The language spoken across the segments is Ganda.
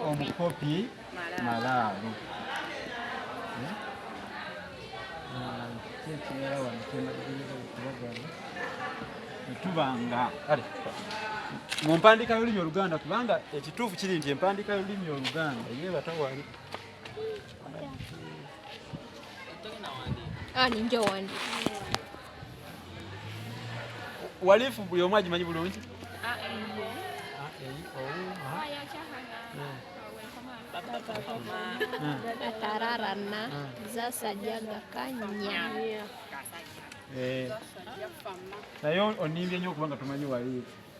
omukopi malaalo kyekimera wano kyemagiriza okubagamba tuba nga kale mu mpandiika y'olulimi oluganda kubanga ekituufu kiri nti empandiika y'olulimi oluganda yebatawali ah, ninja wandi walifu buli omu agimanyi bulungi atararana zasajaga kanya naye onimbye nyo okubanga tumanyi walifu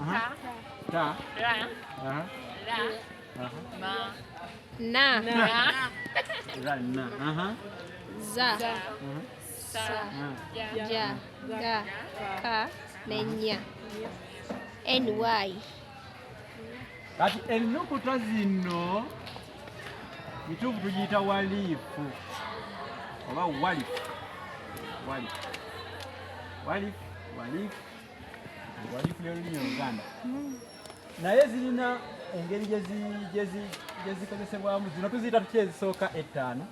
Aha. Ta. Ra. Aha. Ra. Aha. Ma. Na. Na. Ra na. Aha. Za. Aha. Sa. Aha. Ja. Ja. Ga. Ka. Nenya. NY. Kati ennukuta zino kituufu tugiyita waliifu oba walifu walifu walifu walifu naye zirina engeri gyezikozesebwamu zino tuziyita tutya ezisooka ettaano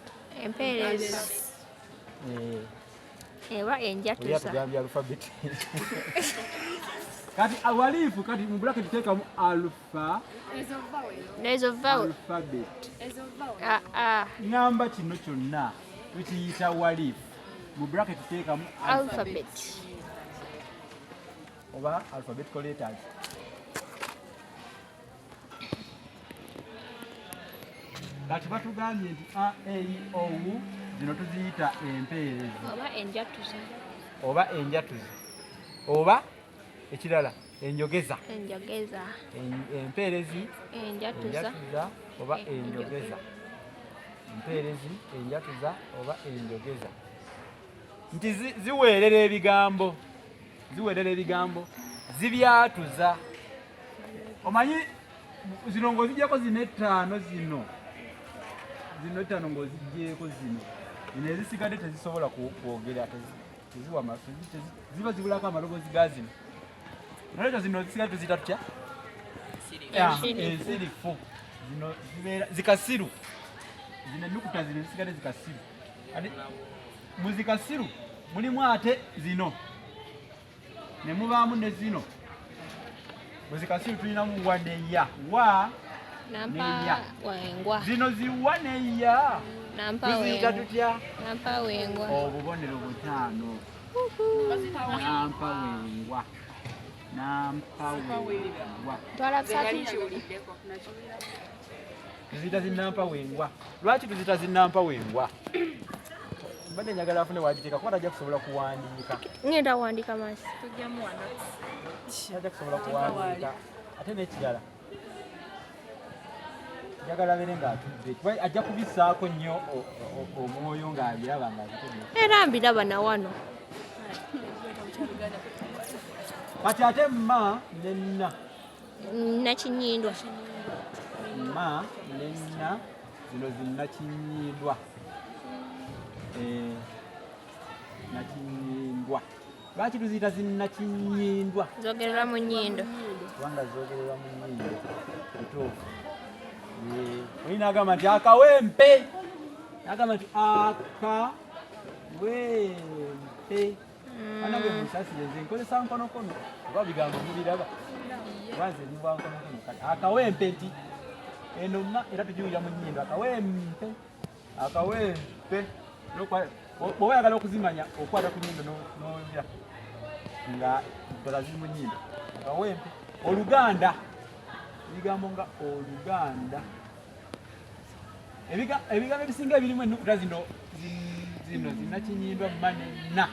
empeerezi eh. eba enjatuza kati awalifu kati mu bracket tekamu alpha ezo vowel ezo vowel alphabet ezo vowel ah ah namba kino kyonna tukiyita walif mu bracket tuteekamu alphabet oba alphabetical letters kati batugambye nti a e i o u zino tuziyita empeerezi oba enjatuzi oba enjatuzi oba ekirala enjogeza enjogeza empeerezi enjatuza oba enjogeza empeerezi enjatuza oba enjogeza nti ziweerera ebigambo ziweerera ebigambo zibyatuza omanyi zino ng'ozigyeko zino ettaano zino zino ettaano ng'ozigyeko zino nezisigadde tezisobola kwogera ziba zibulako amaloboozi ga zino nolwekyo zino zisigaye tuzita tutya ensirifu eh, zino zibeera zikasiru zino enukuta zino zisigale zikasiru ati muzikasiru mulimu ate zino ne mubaamu ne zino bwezikasiru tulinamu wa neya wa neya zino ziwa neya tuziyiga tutya obubonero butaano nampa wengwa nampa wengwa tuzita zinampa wengwa lwaki tuzita zinampa wengwa mbadde njagala afune wagiteeka kuba tajja kusobola kuwandiika ngenda wandika masi tajja kusobola kuwandiika ate nekirala njagala bere ng'atudde kuba ajja kubisaako nnyo omwoyo ng'abiraba ng'abitudde era mbiraba na wano kati ate mma nenna nakinyindwa ma nena zino zinakinyindwa eh, nakinyindwa lwaki tuziyita zinakinyindwa zogerera mu nyindo kubanga zogerera mu nyindo kituufu eh, olina agamba nti akawempe agamba nti akawempe anange musasire nze nkozesa nkonokono oba bigambo mubiraba wanze nyumba nkonokono kati akawempe nti eno ma era tujiwulira mu nyindo akawempe akawempe bwoba oyagala okuzimanya okwata ku nyindo nowulira nga ddala ziri mu nyindo akawempe oluganda ebigambo nga oluganda ebigambo ebisinga ebirimu ennukuta zino zino zinakinyindwa mane na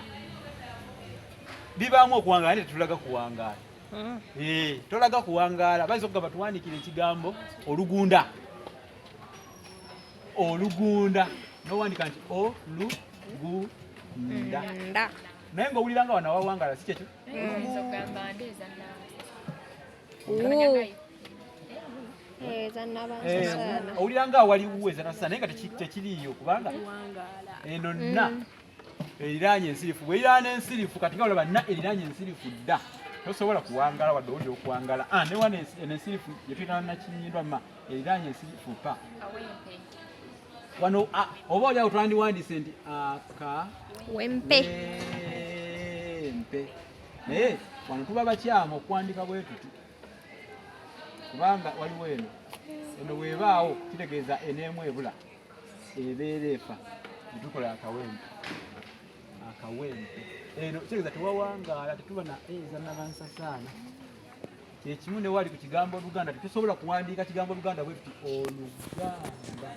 bibaamu okuwangaala naye tetulaga kuwangaala hmm. eh, tolaga kuwangaala bayinza okugamba tuwandikira ekigambo olugunda olugunda nowandika nti olugunda naye ngaowulira nga wanawawangaala si kyekyo hmm. owulira nga awali wuweza nasana naye nga tekiriiyo kubanga eno nna mm. eriraanye ensirifu bweriraana ensirifu kati nga olaba nna eriraanye ensirifu dda tosobola kuwangala wadde owulira okuwangala ah, newa ensirifu yetuyitana nakinyindwa ma eriraanye ensirifu pa wano ah, oba olyawo twandiwandiise nti aka wempe mpe naye wano tuba bakyamu okuwandika bwe tuti kubanga waliwo eno eno bwebaawo kitegeeza eneemu ebula ebeera efa netukola akawempe akawempe eno kitegeeza tewawangaala tetuba na eza nabansasaana kyekimu newali ku kigambo oluganda tetusobola kuwandiika kigambo oluganda bwe tuti oluganda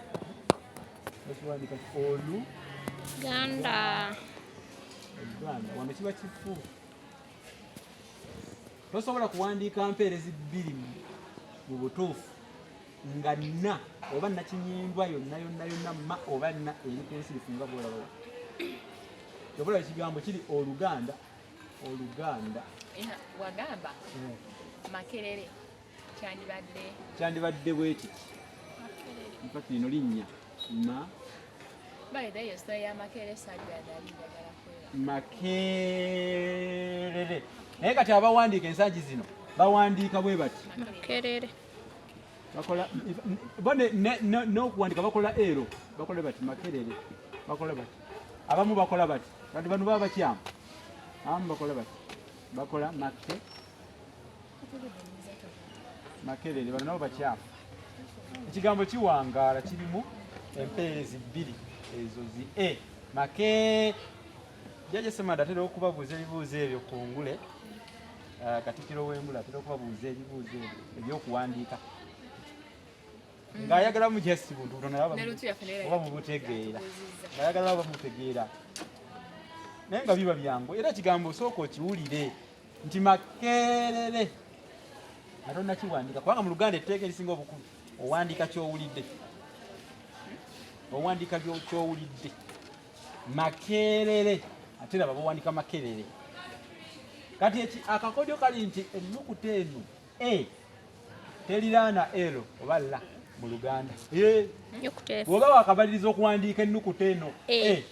Ganda. Ganda. Wano kiba kifu. Tosobola kuwandiika mpeerezi bbiri mu butuufu nga nna oba nakinyindwa yonna yonna yonna ma oba nna eri ku nsi lifunga bwolaba kyobulaba ekigambo kiri oluganda oluganda wagamba eh. makerere kyandibadde bwekiki mpaka lino linnya ma makerere naye kati abawandiika ensangi zino bawandiika bwe bati makerere bakola n'okuwandika bakola ero bakola bati makerere bakola bati abamu bakola bati bantu bano baba bakyamu abamu bakola bati bakola makerere makerere bano nabo bakyafu ekigambo kiwangaala kirimu empeerezi bbiri ezo zi e make jaja semada atera okubabuuza ebibuuzo ebyo ku ngule ah, katikiro w'engule atera okubabuuza ebibuuzo ebyo ebyokuwandiika ng'ayagala mu just buntu butonoba bubutegeera ng'ayagala bamutegeera naye nga biba byangu era ekigambo osooka okiwulire nti makerere nga tonakiwandika kubanga mu luganda etteeka erisinga obukulu owandika kyowulidde owandika kyowulidde makerere ate laba bawandika makerere kati eki akakodyo kali nti ennukuta eno e teriraana l oba la mu luganda bwoba wakabaliriza okuwandiika ennukuta eno e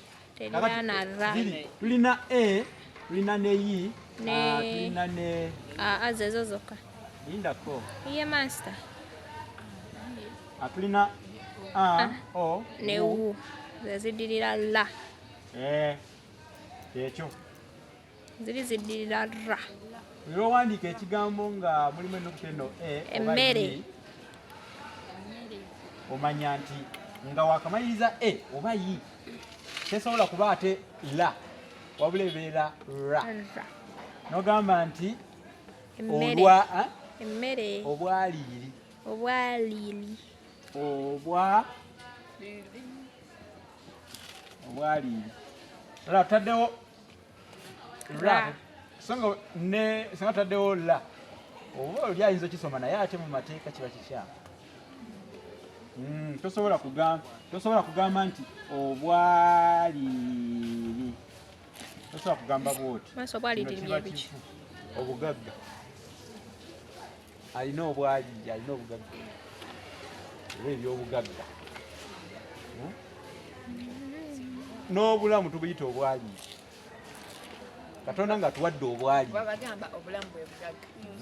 tulina a tulina ne yi ah, tulina ne ah, ah, zezo zokka lindako ye master atulina a o ne u zezidirira la eh, kyekyo ziri ziddirira ra era owandiika ekigambo nga mulimu ennukuta eno e emmere omanya nti nga wakamaliriza e oba yi tesobola kuba ate la wabula ebeera ra nogamba nti olwa emmere obwaliiri obwaliiri obwa obwaliiri era tutaddewo ra so nga ne singa taddewo la oba oli ayinza okisoma naye ate mu mateeka kiba kikyamu hmm, tosobola kugamba tosobola kugamba nti obwaliri tosobola kugamba bwoti obugagga alina obwali alina obugagga oba ebyobugagga hmm? n'obulamu tubuyita obwali katonda nga tuwadde obwali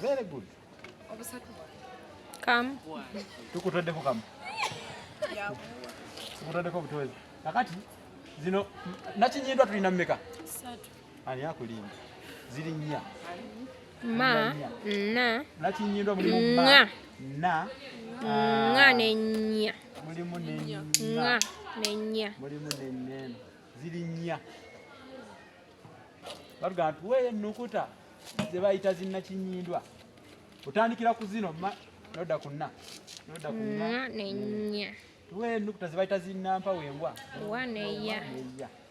very good tukutweddeko kamu tukutweddeko obutwezi kakati zino nakinyindwa tulina mumeka Ani akulimba? Ziri nnya. Ma, na. Nakinyindwa mulimu ma. Nga. Na. Nga ah. ne nnya. Mulimu ne nnya. Nga ne nnya. Mulimu ne nnya. Ziri nnya. Batugamba nti weeyo ennukuta ze bayita zinnakinyindwa. Otandikira ku zino ma noda ku nna. Noda ku nna. Nga ne nnya. Tuwe ennukuta ze bayita zinnampa wembwa. Wa ne ya.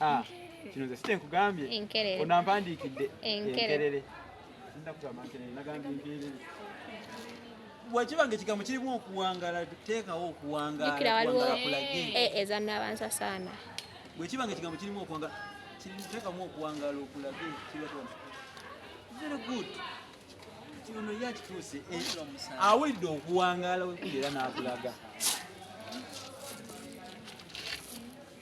Ah, kino nze site nkugambye onampandiikidde enkerere bwekiba nga ekigambo kirimu okuwangala teekawo okuwangalaakulage eh, ezanabanza saana bwekiba nga ekigambo kirimu okuwangala teekamu okuwangala okulage very good kino ye akituuse eh, awulidde okuwangaala wekuli era n'akulaga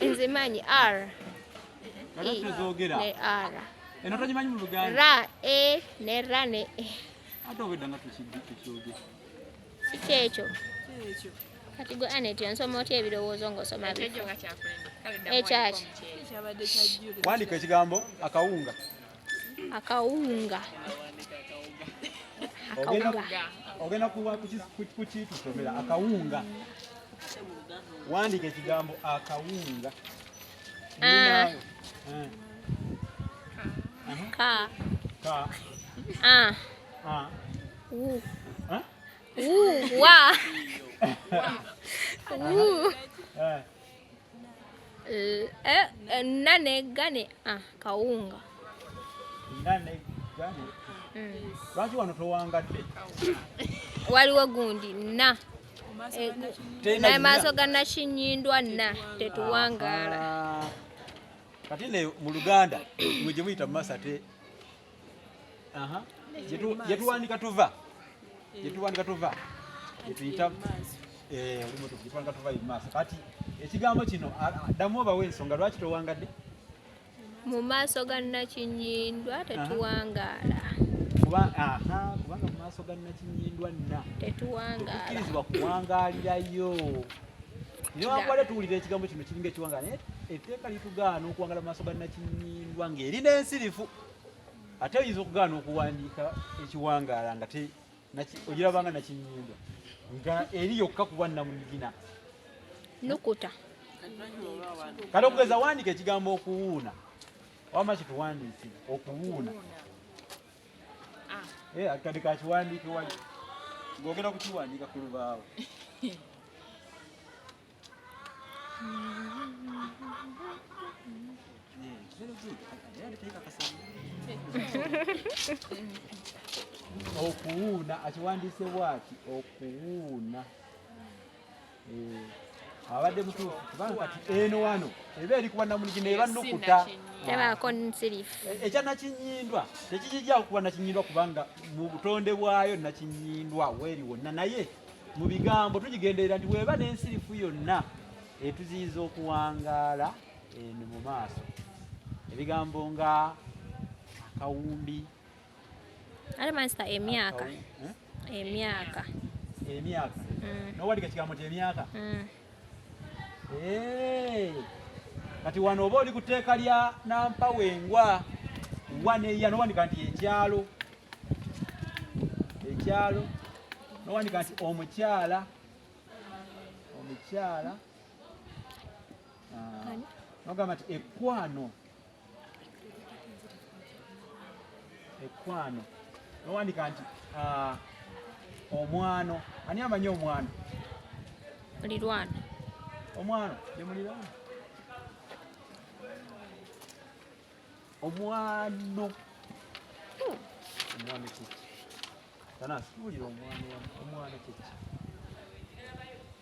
nze manyi r e, ne r eno togimanyi mu luganda ra e ne ra ne e ate obedda nga tukyoge kikyekyo kati gwe anet ensoma otya ebirowoozo ngaosoma ekyaki wandika ekigambo akawunga akawunga ogenda kuwa kukitusomera akawunga wandika ekigambo akawunga ah. ka ka ah. ah. u u wa u eh. Eh, eh, nane gane ah, kawunga nane gane mm. lwaki wano towangadde waliwo gundi na eh, naye maaso ga nakinyindwa na tetuwangaala kati ne mu luganda mwe gye muyita masate aha jetuwandika tuva jetuwandika eh. tuva jetuyita eh olumu tuva tuva imasa kati ekigambo kino addamu obawe ensonga lwaki towangadde mu maaso ga nakinyindwa tetuwangaala kubanga mu maaso ga nakinyindwa nna tetuwangaala kuwangaalirayo newankubadde tuwulira ekigambo kino kiringa ekiwanga naye etteeka litugaana okuwangala mu maaso ga nakinyindwa ng'eri n'ensirifu ate oyinza okugaana okuwandiika ekiwangaala nga ogirabanga nakinyindwa nga eri yokka kuba namunigina nukuta kati okugeza wandika ekigambo okuwuuna wama kituwandiikire okuwuuna Eh, akade ka kiwandiiko wali ng'ogenda kukiwandiika ku lubaawo okuwuuna akiwandiise bwaki okuwuuna Eh, abadde mutuufu kubanga kati eno wano eba eri kuba namunigi naye banukuta tebaako nsirifu eh, ekya nakinyindwa tekikijjawo kuba nakinyindwa kubanga mu butonde bwayo nakinyindwa weeri wonna naye mu bigambo tugigenderera nti weeba n'ensirifu yonna etuziyiza okuwangaala eno mu maaso ebigambo nga akawumbi Ate mansita emyaka emyaka emyaka mm. nowandika ekigambo nti emyaka mm. eh. kati wano oba oli ku tteeka lya nampa wengwa waneya nowandika nti ekyalo ekyalo nowandika nti omukyala omukyala ah. nogamba nti ekwano ekwano nowandika nti ah, omwano ani amanyi omwano mulirwana omwano nemulirwana omwano hmm. omwano kiki tanasi tuwulira omwano omwano kiki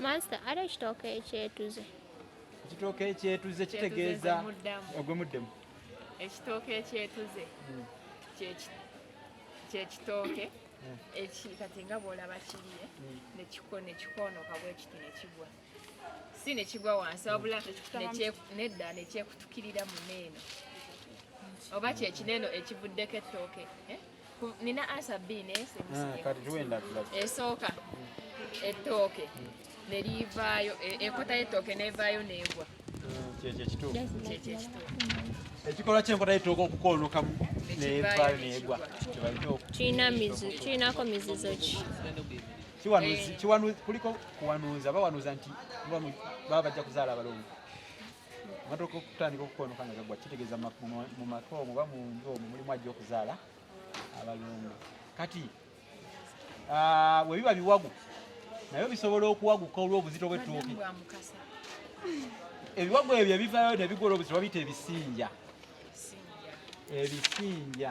Master, ate ekitooke ekyetuze ekitooke ekyetuze kitegeeza ogwe muddemu ekitooke ekyetuze hmm. kyekitooke hmm. eki kati nga bwolaba kiriye hmm. nekiko nekikonoka bwekiti nekigwa si nekigwa wansi wabula nedda nekyekutukirira muneeno oba kyekineno ekivuddeko ettooke eh? nina ansa bbiri naye esooka ettooke ne liivaayo e- enkota y'ettooke n'evaayo n'egwa ekikolwa kyenkota y'ettooke okukoonokamu n'evaayo n'egwa kirinako mizizo ki kuliko kuwanuuza bawanuuza nti baba bajja kuzaala abalongo Amatoke okutandika okukonoka nga gagwa kitegeeza mu maka omwo oba mu nju omwo mulimu ajja okuzaala abalongo. Kati bwe biba biwagu naye bisobola okuwaguka olw'obuzito bw'ettooke. Ebiwagu ebyo ebivaayo ne bigwa olw'obuzito babiyita ebisinja. Ebisinja.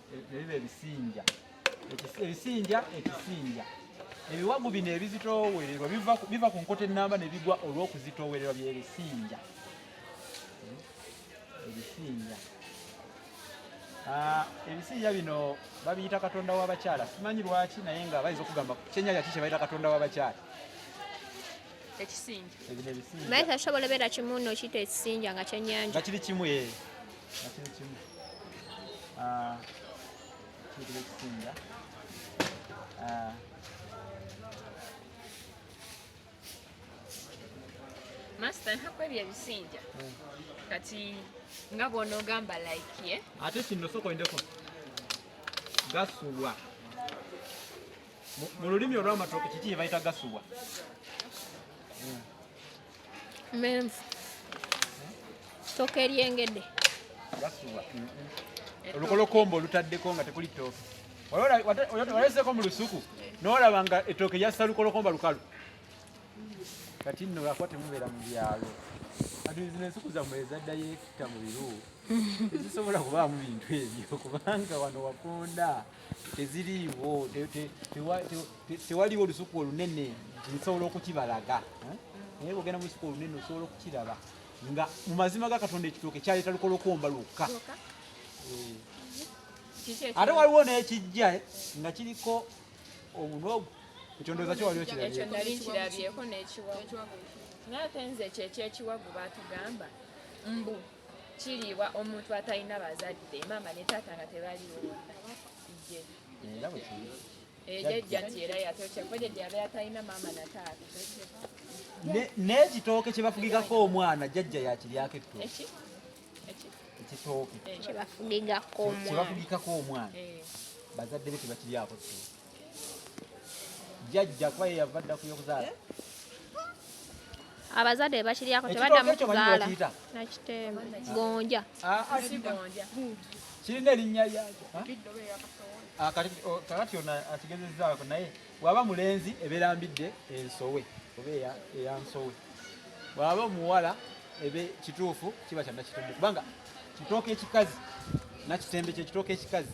ebiba ebisinja ebisinja ekisinja ebiwagu bino ebizitoowererwa biva ku nkota ennamba ne bigwa olw'okuzitoowererwa byebisinja hmm? ebisinja ah, ebisinja bino babiyita katonda w'abakyala simanyi lwaki naye nga bayinza okugamba kyenyaya ki kyebayita katonda w'abakyala ekisinja naye tasobola beera kimu nokiyita ekisinja nga kyenyanja nga kiri kimu ee eh. Master ntakwebya ebisinja hmm. kati nga bwona ogamba like ye ate kino soko endeko gasubwa mu lulimi olw'amatooke kiki kye bayita gasubwa hmm. menvu toka eryengedde olukolokombo olutaddeko nga tekuli tooke waleseko mu lusuku nolaba nga etooke lyassa lukolokomba lukalu kati nno lwakuba temubeera mu byalo kati zino ensuku zammwe ezaddayo ekita mu biru tezisobola kubaamu bintu ebyo kubanga wano wakonda teziriiwo tewaliwo olusuku olunene nsobola okukibalaga eh? naye bwogenda mu lusuku olunene osobola okukiraba nga mu mazima ga katonda ekitooke kyaleeta lukola okuwomba lwokka eh. ate waliwo n'ekijja eh, nga kiriko omunwa ogwo ekyo ndowooza kyo waliwo kirabyeeko n'ekiwagu naye ate nze ekyo ekyekiwagu batugamba mbu kiriibwa omuntu atalina bazadde maama ne taata nga tebaliwo n'ekitooke kye bafugigako omwana jajja yakiryako ettooke ekitooke kye bafugigako omwana eh. bazadde be tebakiryako ttooke jajja kuba ye yava dda kuyokuzaala eh? abazadde bebakiryako tebaddamu kuzaala nakiteema gonja ah, ah, kirina erinnya lyakyo ah, kakati ono akigezezaako naye bwaba mulenzi ebeera mbidde ensowe oba eyansowe bwaba omuwala ebe kituufu kiba kyanakitundu kubanga kitooka ekikazi nakitembe kyekitooka ekikazi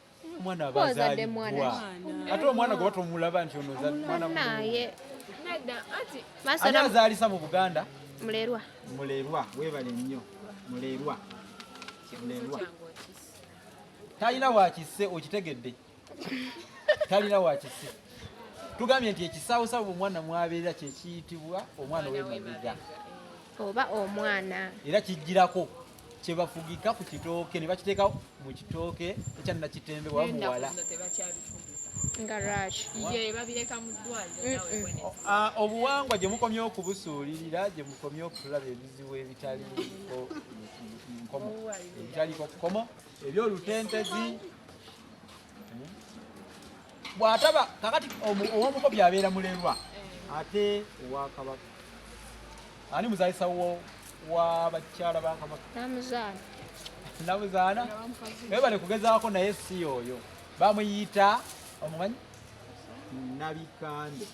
omwana aba azalibbwa ate omwana gwe batomulaba nti ono mwanaye ani azaalisa mu buganda mulerwa mulerwa webale nnyo mulerwa mulerwa talina wakisse okitegedde talina wakisse tugambye nti ekisaawosawo omwana mwabeera kyekiyitibwa omwana wemabega oba omwana era kijjirako kyebafugika ku kitooke ne bakiteeka mu kitooke ekya nakitembe wa muwala ah, obuwangwa gye mukomye okubusuulirira gye mukomye okulaba ebizibu ebitali nkomo ebitaliko kukomo ebyolutentezi bwataba kakati owomukopi abeera mulerwa eh. ate owakabaka ani muzalisa wabakyala bakabaka namuzaana webale kugezaako naye si oyo bamuyita omumanyi nabikande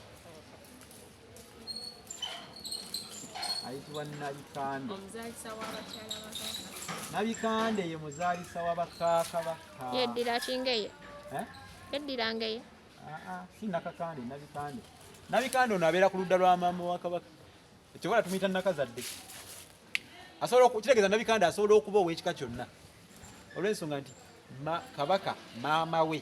ayitibwa nabikande nabikande ye muzaalisa wa bakakabaka yeddira kingeye eh? yeddira ngeye ah, ah, si nakakande nabikande nabikande ono abeera ku ludda lwa maama wa kabaka ekyobola tumuyita nakazadde kitegeeza nabikande asobola okuba ow'ekika kyonna olw'ensonga nti kabaka maama we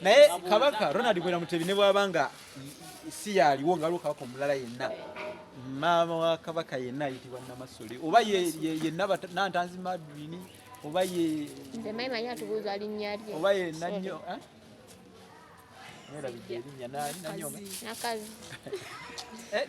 naye kabaka ronald bwera mutebi ne bwaba nga si yaaliwo nga aliwo kabaka omulala yenna maama wa kabaka yenna ayitibwa namasole oba yenantanzi madwini oba ye oba ye nanyo eh? nakazi eh,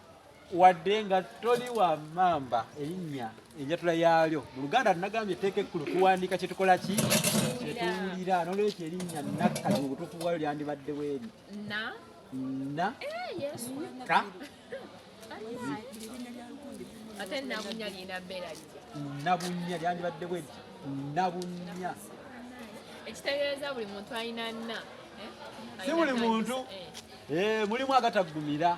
wadde nga toli wa mamba erinnya enjatula yaalyo mu luganda tunagambye etteeka ekkulu tuwandiika kye tukola ki kye tuwulira n'olwekyo erinnya nakkati mu butuufu bwayo lyandibadde weeri na eh, ka nabunnya lyandibadde bwe ti nabunnya ekitegeeza buli muntu alina nna eh? si buli muntu eh. mulimu agataggumira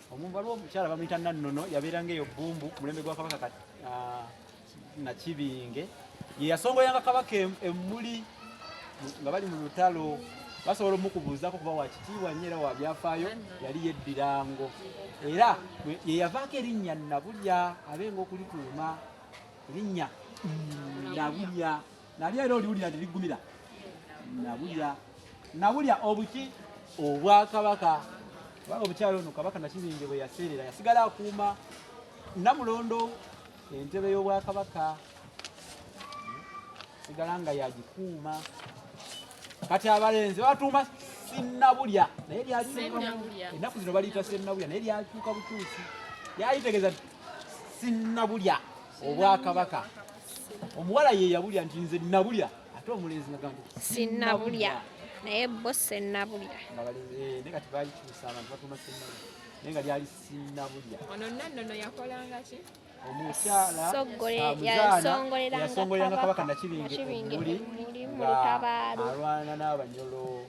Omuntu waliwo omukyala bamuyita Nannono yabeeranga eyo Bbumbu ku mulembe gwa Kabaka ah, Nakibinge ye yasongoyanga Kabaka emmuli nga bali mu lutalo basobola omukubuuzako kuba wakitiibwa nnyo era wabyafaayo yali yeddirango era yeyavaako erinnya nabulya abenga okulituuma erinnya nabulya nalyo era oliwulira nti liggumira nabulya nabulya obuki obwakabaka kubanga omukyalo ono kabaka nakibinge bwe yaseerera yasigala akuuma namulondo entebe y'obwakabaka sigala nga yagikuuma kati abalenzi batuuma sinabulya naye lyaenaku zino baliyita senabulya naye lyakyuka bukyusi lyayitegeeza sinabulya obwakabaka omuwala ye yabulya nti nze nabulya ate omulenzi nagamba sinabulya naye bo senabulya eh, naye kati bakikyusa abantu batuma senabulya naye nga lyali sinabulya ono nannono yakolanga ki omukyalayasogoleranga kabaka nakibingeuli ngaalwana n'abanyolo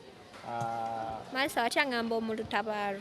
ah. maasa watya ngamba omulutabaalo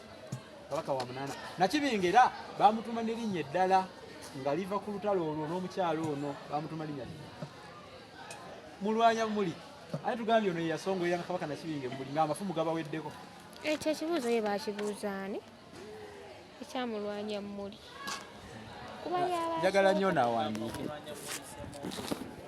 kabaka wa munana nakibinga era bamutuma nerinnya eddala nga liva ku lutalo olwo n'omukyalo ono bamutuma linnya mulwanya muli aye tugambye ono yeyasongoera nga kabaka nakibinga emuli nga amafumu gabaweddeko ekyo eh, ekibuuzo ye bakibuuzaani ekyamulwanya muli kuba njagala nnyo nawandiike